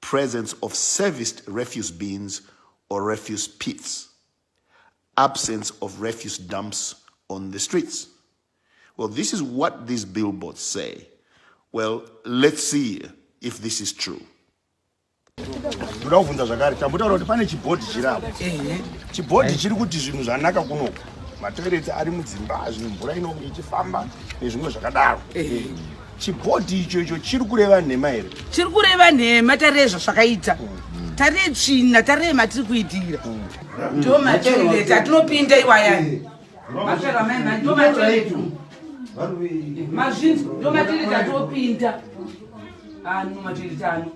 presence of serviced refuse bins or refuse pits, absence of refuse dumps on the streets. Well, this is what these billboards say. Well, let's see if this is true. ndoda kuvhunza zvakare tambotaura kuti pane chibhodhi chiri apo chibhodhi chiri kuti zvinhu zvanaka kunoku matoireti ari mudzimba zvinhu mvura inonge ichifamba nezvimwe zvakadaro chibhodhi icho icho chiri kureva nhema here chiri kureva nhema tarei zvazvakaita mm. tarei tsvina tarei matiri kuitira mm. ndo matereta atinopinda iwaya eh. mapero amaima ndo materetu mazvinzi ndo matereta atinopinda ano ah, materetano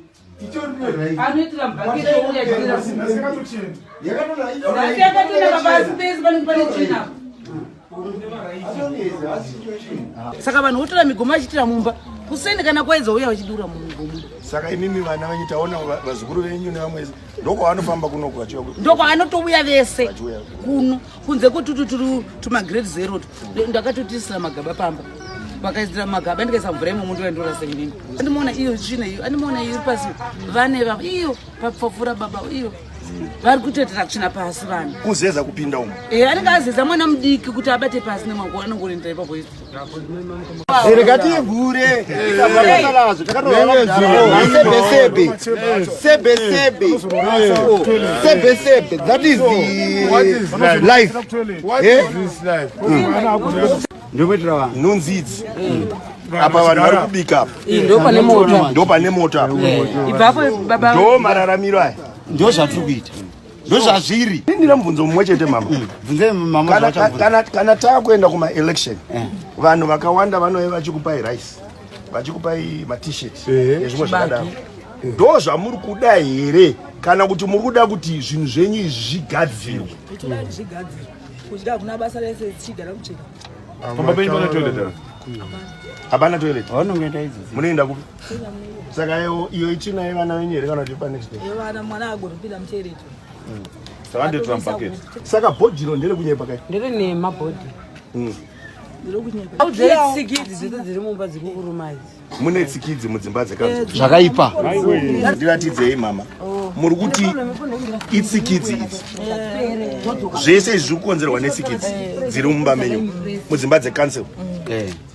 anoitira bhaketi ouya saka vanhu votora migomo vachiitira mumba kuseni kana kwaedza uya vachidura mumigomo saka imimi vana venyu taona vazukuru venyu nevamwe ndokwavanofamba kunoku vachiva ndokwavanotouya vese kuno kunze kotututuru tumagreat zero ndakatotisira magaba pamba vakaisira magaba ndikaisa mvura imomo ndoendorasa inini andimoona iyo tsvina iyo andimoona iyo iri pasi vane vava iyo papfapfura baba iyo vari kutoitira kuchina pasi vanhu kuzeza kupinda umo e anenge azeza mwana mudiki kuti abate pasi nemwako anongorindira ipapo rekativhure takatalazvo takatoaasebesebe sebesebe sebesebe that is life ndokuitira vanhu nonzidzi apa vanhu vari kubika apa ndopane mota ndopane mota ipapo baba ndo mararamiro aya ndo zvatiri kuita ndozvazviri ndina mubvunzo mumwe chete mama mm. kana takuenda kumaelection eh. vanhu vakawanda vanove vachikupai rice vachikupai matishet eh. nezvimwe zvakadaro ndo zvamuri kuda here kana kuti muri kuda kuti zvinhu zvenyu izvi zvigadzirwe hapana toilet munoenda kupi saka iyo itsvina yevana venyu here kana kuti panext day yevana mwana agoripira muchereto mm. saka ndotora mubucket saka bhodhiro ndere kunyepa kai ndere nema bhodhi mm. mune tsikidzi mudzimba dzekazvakaipa eh, ndiratidzei mama oh. muri kuti itsikidzi idzi eh. zvese izvi zviri kukonzerwa netsikidzi eh. dziri mumba menyu mudzimba dzekansel mm.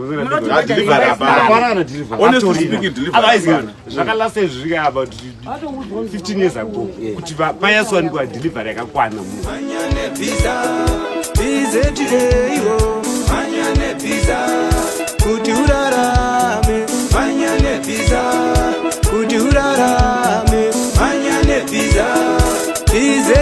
zvakalasa izvi zvika about 15 years ago kuti payasiwanikwa delivery yakakwana kuti urarame manya nepisa kuti urarame manya nepisa izta